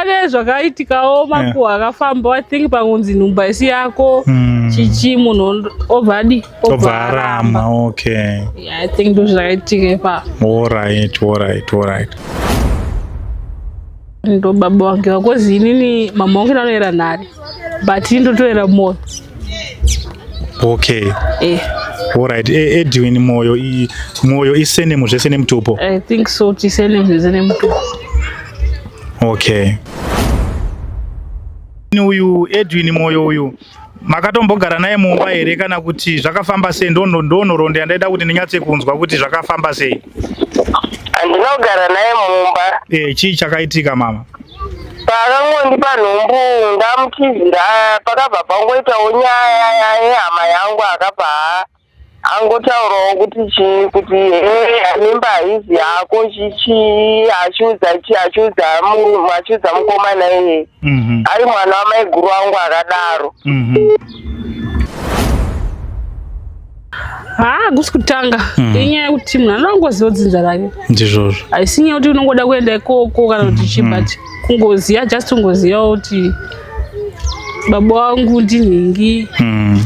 pane zvakaitikawo eh. makuhwa akafamba i think pangunzi nhumba isi yako hmm. chichi munhu obva adi obva aramba okay i think ndo zvakaitika ipa orit orit orit ndo baba wange wakozi inini mama wangu ndanoera nhari but ini ndotoera moyo okay eh. orit e, edwin moyo moyo isenemu zvese nemutupo i think so tisenemu zvese nemutupo Okay. Uyu Edwin Moyo uyu makatombogara naye mumba here kana kuti zvakafamba sei? Ndono ndonhorondo yandaida kuti ndinyatse kunzwa kuti zvakafamba sei. Andinogara naye mumba. Eh, chii chakaitika mama? Pakangondipa nhumbu ndamutizira pakabva pangoitawo nyaya yehama yangu akabva angotaurawo kuti chii kuti hee mimba haizi yako chichii achiudza chii achiudza mu- achiudza mukomana iyeye Mhm. ari mwana wamaiguru wangu akadaro Mhm. haa hakusi kutanga Mhm. inyaya yekuti munhu anoda kungoziva dzinza rake ndizvozvo haisi nyaya kuti unongoda kuenda ikoko kana kuti chii but kungoziva just kungoziva kuti baba wangu ndinhingi Mm.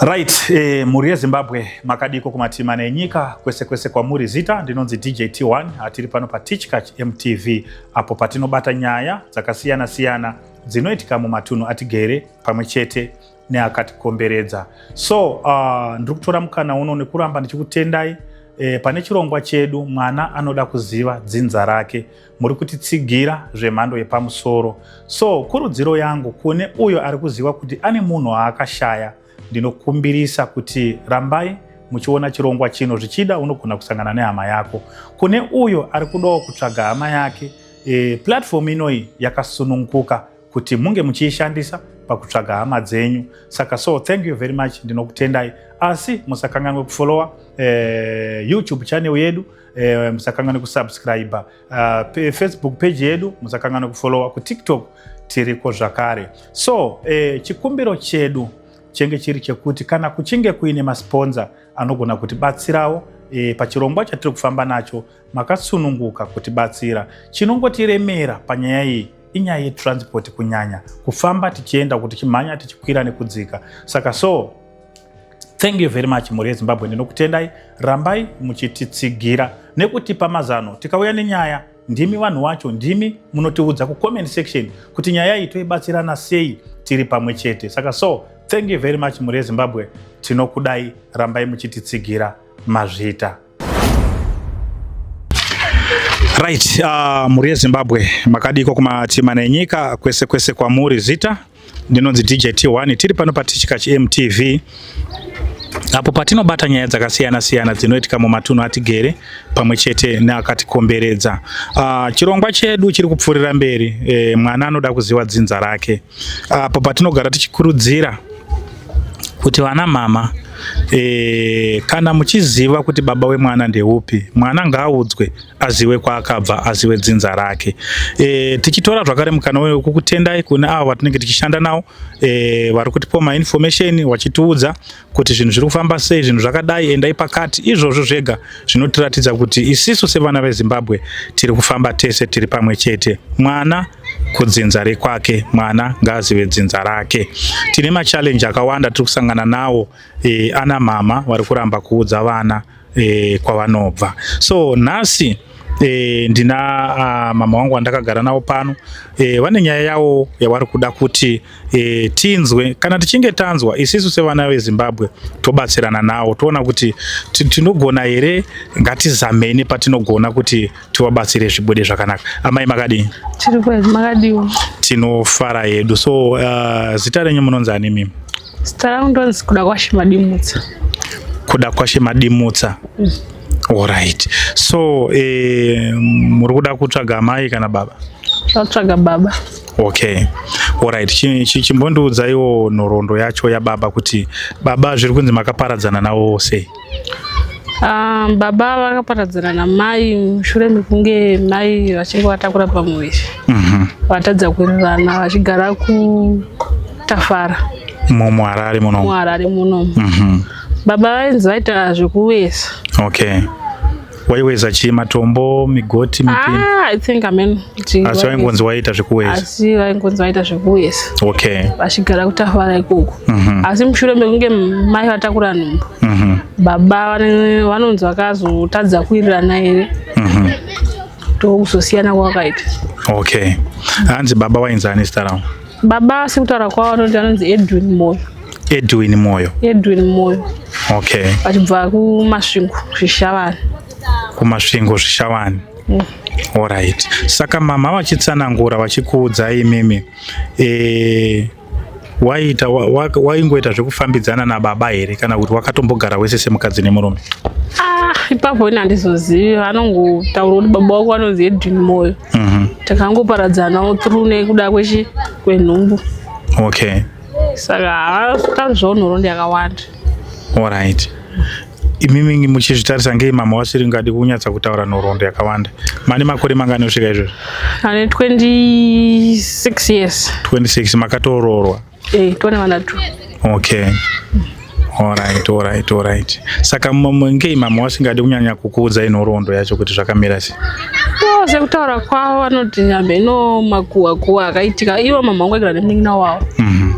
Right, eh, mhuri yeZimbabwe makadiko kumatima nenyika kwese kwese kwamuri zita ndinonzi DJ T1 atiri pano paTichkach MTV apo patinobata nyaya dzakasiyana siyana dzinoitika mumatunhu atigere pamwe chete neakatikomberedza so uh, ndiri kutora mukana uno nekuramba ndichikutendai eh, pane chirongwa chedu mwana anoda kuziva dzinza rake muri kutitsigira zvemhando yepamusoro so kurudziro yangu kune uyo ari kuziva kuti ane munhu aakashaya ndinokumbirisa kuti rambai muchiona chirongwa chino zvichida unogona kusangana nehama yako kune uyo ari kudawo kutsvaga hama yake e, platform inoyi yakasununguka kuti munge muchiishandisa pakutsvaga hama dzenyu saka so thank you very much ndinokutendai asi musakanganwe kufollowa e, youtube channel yedu Eh, musakangane kusubscribe uh, facebook page yedu musakangane kufollowa kutiktok tiriko zvakare so eh, chikumbiro chedu chenge chiri chekuti kana kuchinge kuine masponza anogona kutibatsirawo e, pachirongwa chatiri kufamba nacho makasununguka kutibatsira chinongotiremera panyaya iyi inyaya yetransport kunyanya kufamba tichienda kuti chimhanya tichikwira nekudzika saka so Thank you very much mhuri yeZimbabwe ndinokutendai rambai muchititsigira nekutipa mazano tikauya nenyaya ndimi vanhu wacho ndimi munotiudza kucomment section kuti nyaya iyi toibatsirana sei tiri pamwe chete saka so thank you very much mhuri yezimbabwe tinokudai rambai muchititsigira mazvita Right, uh, mhuri yezimbabwe makadiko kumatima nenyika kwese kwese kwamuri zita ndinonzi dj t1 tiri pano patichika chimtv apo patinobata nyaya dzakasiyana siyana dzinoitika mumatunhu atigere pamwe chete neakatikomberedza uh, chirongwa chedu chiri kupfuurira mberi e, mwana anoda kuziva dzinza rake apo patinogara tichikurudzira kuti vana mama e, kana muchiziva kuti baba wemwana ndeupi mwana ngaaudzwe aziwe kwaakabva aziwe dzinza rake e, tichitora zvakare mukana uyu kukutendai kune avo vatinenge tichishanda navo e, vari kutipo mainformation vachitiudza kuti zvinhu zviri kufamba sei zvinhu zvakadai endai pakati izvozvo zvega zvinotiratidza kuti isisu sevana vezimbabwe tiri kufamba tese tiri pamwe chete mwana kudzinza rekwake mwana ngaazive dzinza rake tine machallenji akawanda tiri kusangana nawo e, ana mama vari kuramba kuudza vana e, kwavanobva so nhasi e, ndina a, mama wangu wandakagara navo pano e, vane nyaya yavo yavari kuda kuti e, tinzwe kana tichinge tanzwa isisu sevana vezimbabwe tobatsirana nawo toona kuti tinogona here ngatizameni patinogona kuti tivabatsire zvibude zvakanaka amai makadii tinofara yedu so uh, zita renyu munonzi ani mimi Zita rangu ndonzi kuda kwashe madimutsa. Kuda kwashe madimutsa. Mm. Alright. So eh, muri kuda kutsvaga amai kana baba? Tatsvaga baba. Okay. Alright. Chimbondiudzaiwo nhoroondo yacho yababa kuti baba zviri kunzi makaparadzana nawo sei? Ah, baba vakaparadzana namai mushure mekunge mai vachinge vatakura pamuviri mhm. vatadza kurirana vachigara kutafara mumuharare muno muharare muno mhm. baba vainzi vaita zvekuvesa okay waiweza chii matombo migoti mipini ah, i think amen asi vaingonzi waita zvekuweza asi vaingonzi waita zvekuweza okay vachigara kutafara ikoko mm -hmm. asi mushure mekunge mai vatakura nhumbu mm -hmm. baba vanonzi vakazotadza kuirirana here mm -hmm. ndokuzosiyana kwakaita okay hanzi baba wainzi ani zita ravo baba sekutaura kwavo anoti anonzi edwin moyo Edwin Moyo. Edwin Moyo. Okay. Achibva kuMasvingo Zvishavani. KuMasvingo Zvishavani. Mm. Alright. Saka mama vachitsanangura vachikuudza imimi eh waita waingoita wa, wa zvekufambidzana nababa here kana kuti wakatombogara wese semukadzi nemurume? Ah, ipapo ini handizozivi vanongotaura kuti baba wako vanonzi Edwin Moyo. Mm -hmm. Takangoparadzanawo through nekuda kwechi kwenhumbu. Okay. saka haatauri zvaunorondi yakawanda orit imimi muchizvitarisa ngei mama wasiri ngadi kunyatsa kutaura nhoroondo yakawanda mane makore mangani osvika izvozvo ane 26 years 26 makatoroorwa e eh, tone vana two okay Alright, alright, alright. Saka ngei mama wasingadi kunyanya kukuudza inhoroondo yacho kuti zvakamira sei? Oh, sekutaura kwavo vanoti nyambe ino makuwa kuwa akaitika ivo mama wangu agara nemunin'ina wavo mm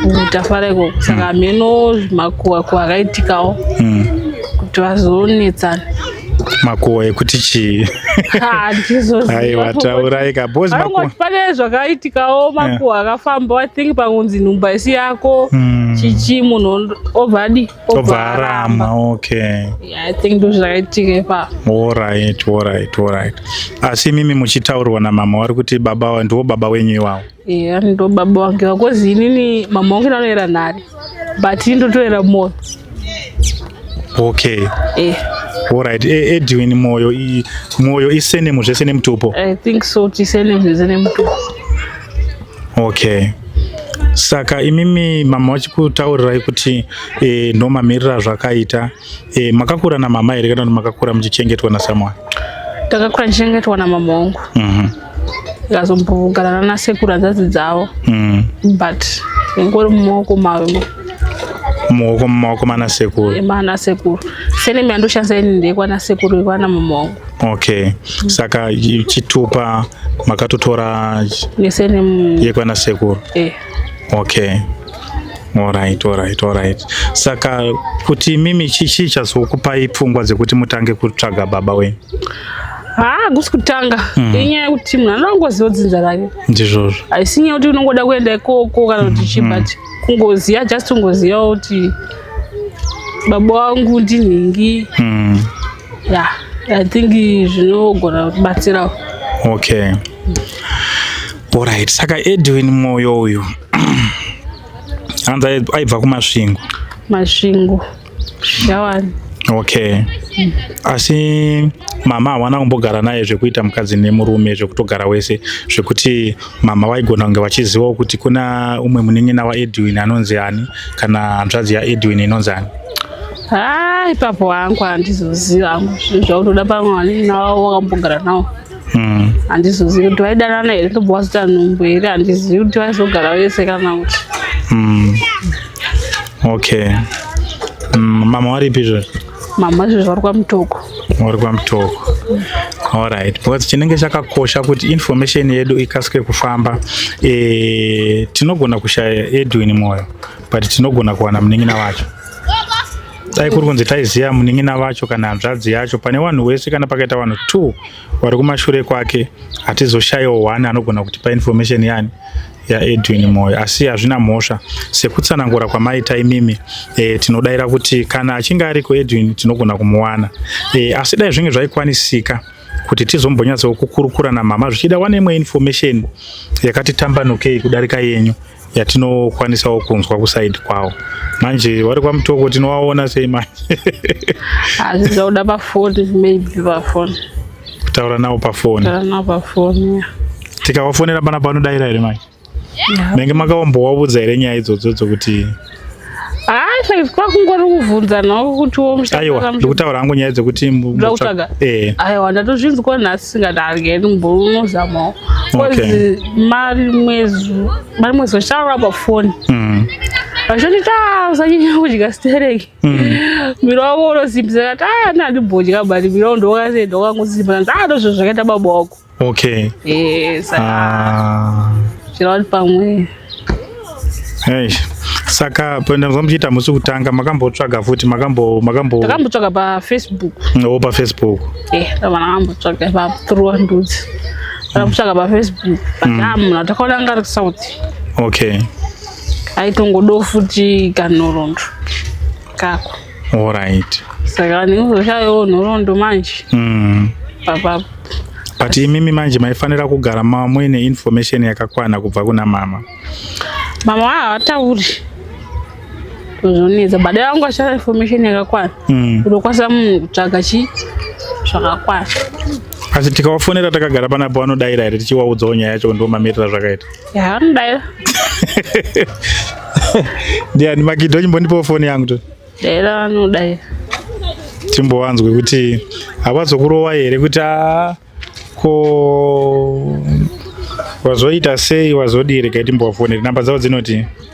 -hmm. tafara ikoko saka mm. hameno makuwa kuwa akaitikawo mm. kuti vazonetsana makuhwa ekuti chii aiwa taurai ka bos makuhwa pane zvakaitikawo makuhwa yeah. akafamba i think pangunzi nhumba isi yako mm. chichi munhu obvadi obva aramba okay yeah, i think ndozvakaitika ipa orit orit orit asi imimi muchitaurirwa namama wari kuti baba ndiwo baba wenyu iwawo eya ndo baba wange vakozi inini mama wange ndanoyera nhari but ini ndotoyera moyo okay eh. Alright, e, Edwin Moyo i Moyo isenemu zvese nemutupo. I think so, tisenemu zvese nemutupo. Okay. Saka imimi mama vachikutaurirai kuti e, ndomamirira zvakaita Eh, makakura na mama here kana kuti makakura muchichengetwa na someone? Takakura tichengetwa na mama wangu. Mhm. Ndikazombogarana na sekuru hanzvadzi dzavo. Mhm. But ngori mumaoko mavo. Mumaoko mumaoko mana sekuru. Eh, mana sekuru. Sene mimi andoshanza ini ndekwa na sekuru ikwana mama wangu. Okay. Mm. Saka chitupa makatotora nesene yekwana sekuru. Eh. Okay. Alright, alright, alright. Saka kuti mimi chichi chazokupai pfungwa dzekuti mutange kutsvaga baba wenyu? haa kusi kutanga mm. inyaya yekuti munhu anoda kungoziva dzinza rake ndizvozvo haisi nyaya kuti unongoda kuenda ikoko kana kuti chii mm-hmm. but kungoziva just kungoziva kuti baba wangu ndinhingi mm. yeah i think zvinogona kubatsirawo okay orit saka edwin mwoyo uyu anzi aibva kumasvingo masvingo shawani okay mm. asi mama hawana kumbogara naye zvekuita mukadzi nemurume zvekutogara wese zvekuti mama vaigona kunge vachizivawo kuti kuna umwe munin'ina waedwin anonzi ani kana hanzvadzi yaedwin inonzi ani haa ipapo wangu handizoziva hangu zvinhu zvaunoda pamwe vanini navo wakambogara nawo hmm. handizozivi kuti vaidanana here ndobva wazoita nhumbu here handizivi kuti vaizogara vese kana kuti hmm. okay hmm, mama waripi izvozvo mama izvozvo vari kwamutoko vari kwamutoko Alright, because chinenge chakakosha kuti information yedu ikasike kufamba e, tinogona kushaya Edwin Moyo but tinogona kuwana munin'ina wacho. dai kuri kunzi taiziva munin'ina vacho kana hanzvadzi yacho pane vanhu wese kana pakaita vanhu two vari kumashure kwake hatizoshayiwo one anogona kutipa information yani yaedwin moyo asi hazvina mhosva sekutsanangura kwamaita imimi e, tinodaira kuti kana achinge ariko edwin tinogona kumuwana e, asi dai zvinge zvaikwanisika kuti tizombonyatsawo kukurukura namama zvichida wane imwe information yakati tambanukei kudarika yenyu yatinokwanisawo kunzwa kusaidi kwawo manje vari kwamutoko tinovaona sei manje asi zvakuda pafoni maybe pafoni kutaura navo pafoni pafoni tikawafonera pana panodaira here manje menge makaombowaudza here nyaya idzodzo dzokuti hayi kwakungori kuvhunza navo kuti womuaiwa ndikutaura hangu nyaya dzekuti mbutsvaga eh. aiwa ndatozvinzwa nhasi singadargeni mburu unozamawo bcause mari mwezi mari mwezi vachitaura pafoni mm. vachondita ah, usanyanya kudya stereki mm. miro wavo unosimbisa kati aya ah, nandibodya bari miro ndokasenda wakangosimba ndandozvo zvakaita baba wako Okay. Eh, saka Ah. chirori pamwe. Hey. Saka penda muchiita musi kutanga makambotsvaga futi makambo makambo Takambotsvaga pa Facebook. no pa Facebook. Eh, vana vakambotsvaga pa through ndudzi. Takambotsvaga pa Facebook. Takamuna takaona ngari kusauti. Okay. Aitongodo futi kanhorondro. Kako. Alright. Saka ndinozoshayawo nhoroondo manje. Mm. Papapo. But imimi manje maifanira kugara muine information yakakwana kubva kuna mama. Mama havatauri. Zvonetsa. Baba vangu vashaya information yakakwana. Mm. Unokwanisa munhu kutsvaga chi zvakakwana. Asi tikawafonera takagara panapo vanodaira here tichiwaudzawo nyaya yacho ndomamirira zvakaita. Ya, ndayo. Ndiani Magido chimbondipawo foni yangu to. Dera anodayo. Timbowanzwe kuti havazokurowa here kuti a ko wazoita sei wazodii regai timbowafonere namba dzavo dzinoti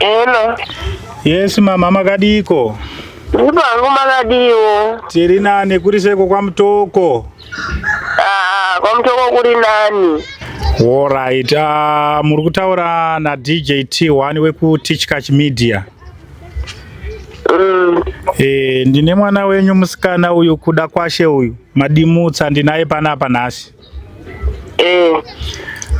Hello. Yes mama makadiko. Ndipangu makadiwo. Tiri nane kuri seko kwa mutoko. Ah, kwamutoko kuri nani Alright, uh, muri kutaura na DJ T1 weku Tichkach Media. Mm. Eh, ndine mwana wenyu musikana uyu kuda kwashe uyu madimutsa ndinaye panapa nhasi. Eh.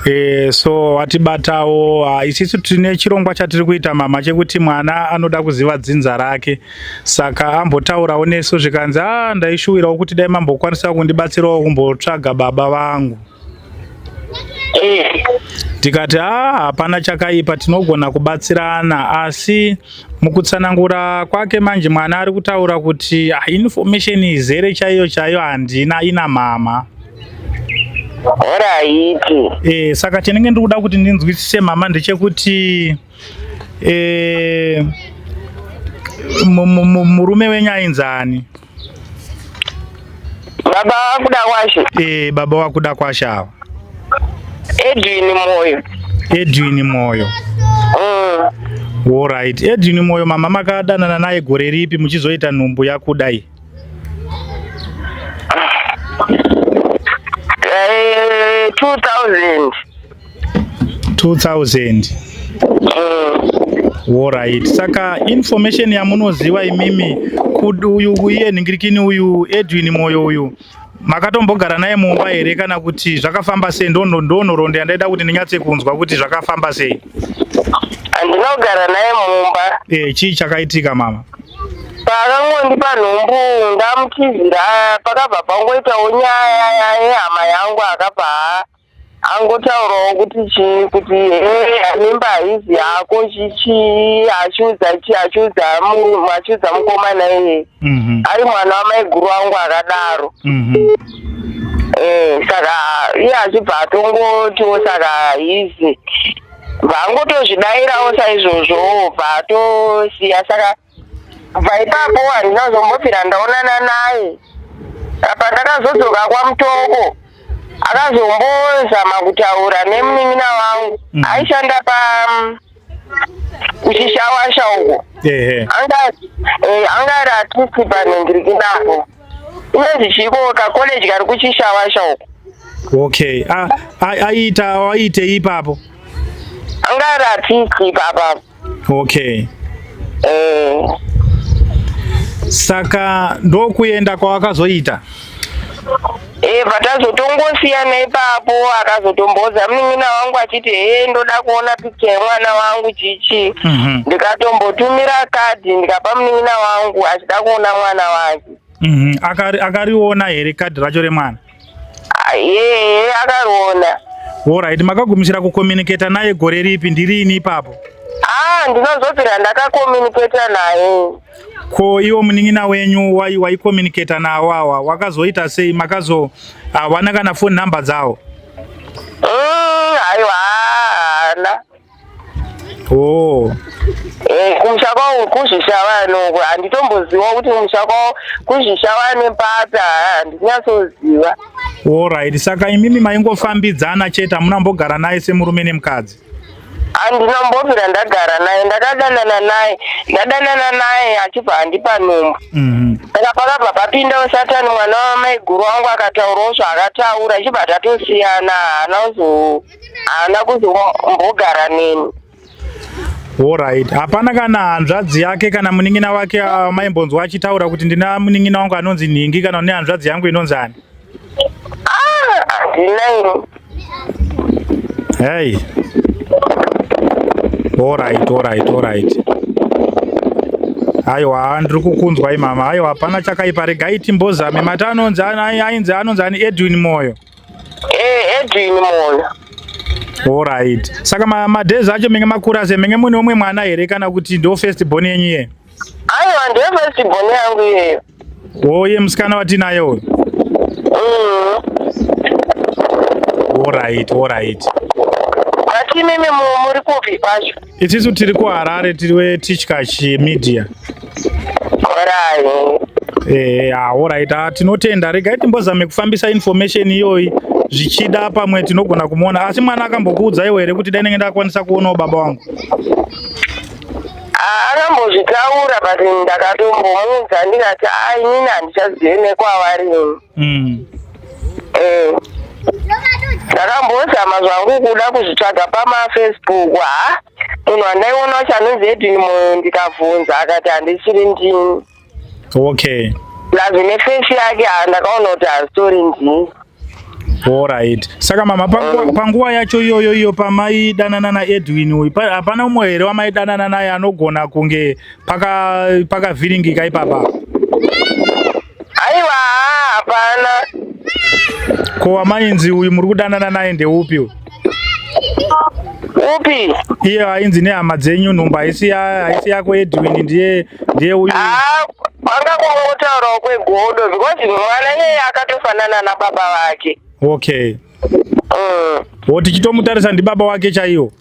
Eh, so watibatawo uh, isisu tine chirongwa chatiri kuita mama chekuti mwana anoda kuziva dzinza rake. saka ambotaurawo nesu zvikanzi a ah, ndaishuwirawo kuti dai mambokwanisawo kundibatsirawo kumbotsvaga baba vangu eh. tikati a ah, hapana chakaipa tinogona kubatsirana asi mukutsanangura kwake manje mwana ari kutaura kuti ah, information izere chaiyo chaiyo handina ina mama horaiti e, eh, saka chinenge ndiri kuda kuti ndinzwisise mama ndechekuti e, Eh, murume wenyu ainzi ani? Baba wakuda kwashe. Eh, baba wakuda kwashe awa. Edwin Moyo. Edwin Moyo. Mm. All right. Edwin Moyo mama makadanana naye gore ripi muchizoita nhumbu yakudai? Eh, 2000 2000 mm. Alright. Saka information yamunoziva imimi uyu uye nhingirikini uyu Edwin Moyo uyu Makatombogara naye mumba here kana kuti zvakafamba sei? Ndonhoroondo yandaida kuti ndinyatse kunzwa kuti zvakafamba sei. Andinogara naye mumba. Eh, chii chakaitika mama? Paakangondipa nhumbu ndamutizira pakabva pangoitawo nyaya yehama yangu akabva angotaurawo kuti chii kuti hee mimba haizi yako chichii achiudza chii achiudza mu- achiudza mukomana iyeye Mhm. ari mwana wamaiguru wangu akadaro Mhm. Eh, saka iye achibva atongotiwo saka hizi bva angotozvidairawo saizvozvo bva atosiya saka kubva ipapo handina kuzombobvira ndaonana naye apa ndakazodzoka kwamutoko akazombozama kutaura nemunin'ina wangu mm. aishanda pa mm, kuchishawasha uko eh, anga ari atusi panhengirikinapo inonzi chiko kakoleji kari kuchishawasha uko okay aiita aiitei ipapo anga ari atusi ipapapo Okay. Eh. Saka ndokuenda kwawakazoita? Eh, patazotongosiyana ipapo akazotomboza munin'ina wangu achiti hee ndoda kuona picha yemwana wangu chichi mm -hmm. ndikatombotumira kadhi ndikapa munin'ina wangu achida kuona mwana wake mm -hmm. akariona akari here kadhi racho remwana Yee akaona. Alright, makagumisira kucommunicate naye gore ripi ndirini ipapo? Ah, ndinozobvira ndakacommunicate naye. Ko iwo munin'ina wenyu wai waicommunicate nawo awa wakazoita sei makazo hawana kana phone number dzawo? Mm, aiwa haana. Oh. Eh, kumusha kwavo kuzhisha vanoko handitomboziva kuti kumusha kwavo kuzhisha vane pata handinyatsoziva orit saka imimi maingofambidzana chete hamuna mbogara naye semurume nemukadzi handina mbobvira ndagara naye ndakadanana naye ndadanana naye achibva handipa nhumbu mhm. saka pakabva papindawo satani mwana wamaiguru wangu akataurawo zvaakataura ichibva tatosiyana haana kuzo haana kuzombogara neni Alright, hapana kana hanzvadzi yake kana munin'ina wake ah, maimbonzwa achitaura kuti ndina munin'ina wangu anonzi nhingi kana une hanzvadzi yangu inonzi ani? Ndinaini. Ah, hey. Alright, alright, alright. Aiwa, ndiri kukunzwa imama. Aiwa, hapana chakaipa. Regai timbozame. Mata anonzi ainzi anonzi ani Edwin Moyo. Eh, Edwin Moyo. Alright. Saka ma, ma days acho menge makura se menge mune umwe mwana here kana kuti ndo first born yenyu ye? Aiwa ndiyo first born yangu iyeyo. Oye musikana watinaye uyu. Mm. Alright, alright. Asi mimi muri kupi pacho? Itisu tiri kuHarare tiri weTichkach Media. Orai. Eh, ah, alright. Ah, tinotenda. Regai timbozame kufambisa information iyoyi zvichida pamwe tinogona kumuona. Asi mwana akambokuudza iwe here kuti dai ndenge ndakwanisa kuonawo baba wangu? Ah, akambozvitaura but ndakatombomuudza ndikati ah, inini handichazive nekwavari. mm. eh, ndakambozama mm. zvangu kuda kuzvitsvaga pamafacebook ha munhu andaiona wacho anonzi edwin moyo ndikabvunza akati handisiri ndini okay plus nefesi yake ha ndakaona kuti hazitori ndini orit saka mama mm. panguva yacho iyoyo iyo pamaidanana naedwin uyu hapana umwe here wamaidanana naye anogona kunge paka pakavhiringika ipapa aiwa hapana ko wamainzi uyu muri kudanana naye ndeupi uyu upi iye ainzi nehama dzenyu nhumbu haisi haisi yako edwin ndiye ndiye uyu ah, kwanga kungotaurawo kwegodo because mwana iyeye akatofanana nababa vake okay mm. wo tichitomutarisa ndibaba wake chaiwo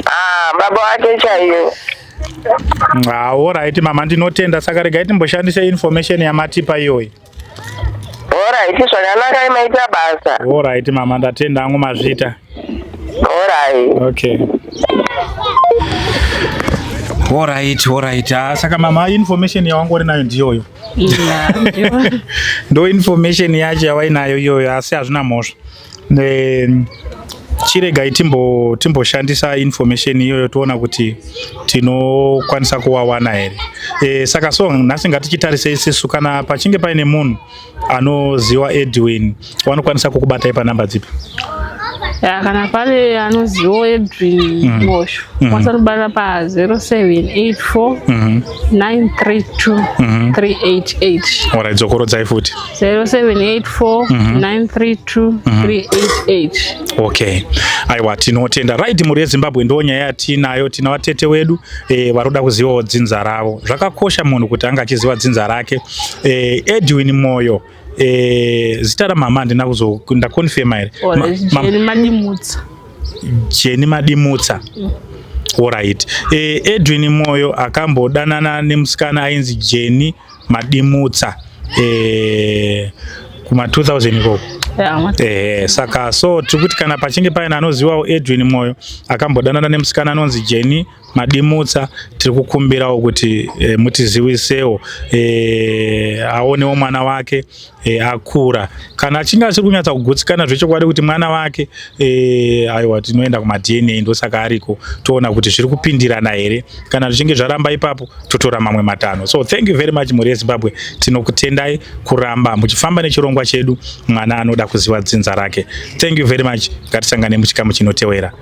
Ah, baba wake chaiyo. Ah, alright mama ndinotenda saka regai timboshandise information yamatipa iyoyi. Alright zvakanaka imaita basa. Alright mama ndatenda hangu mazvita. Alright. Okay. Alright, alright. Ah, saka mama information yawangori nayo ndiyoyo. Ndo information yacho yawainayo iyoyo asi hazvina mhosva. chiregai timbo timboshandisa information iyoyo toona kuti tinokwanisa kuwawana here e, saka so nhasi ngatichitarise isisu kana pachinge paine munhu anoziwa edwin wanokwanisa kukubatai panhamba dzipi ya kana pane anoziwo edwin mhm. mosho mhm. kwanisa kubatira pa 0784 932 388 orai dzokorodzai futi 0784932388 okay aiwa tinotenda right mhuri yezimbabwe ndo nyaya yatiinayo tina vatete wedu e, varoda kuzivawo dzinza ravo zvakakosha munhu kuti anga achiziva dzinza rake e, edwin moyo e, zita ramama handina kuzo ndakonfema here jeni madimutsa mm. orit e, edwin moyo akambodanana nemusikana ainzi jeni madimutsa eh, kuma 2000 ikoko eh, saka so tiri kuti kana pachinge paina anozivawo edwin mwoyo akambodanana nemusikana anonzi jeni madimutsa tiri kukumbirawo kuti eh, mutiziwisewo eh, aonewo mwana wake e, akura kana achinge asiri kunyatsa kugutsikana zvechokwadi kuti mwana wake e, aiwa tinoenda kumadna ndosaka ariko toona kuti zviri kupindirana here kana zvichinge zvaramba ipapo totora mamwe matanho so thank you very much mhuri yezimbabwe tinokutendai kuramba muchifamba nechirongwa chedu mwana anoda kuziva dzinza rake thank you very much ngatisangane muchikamu chinotewera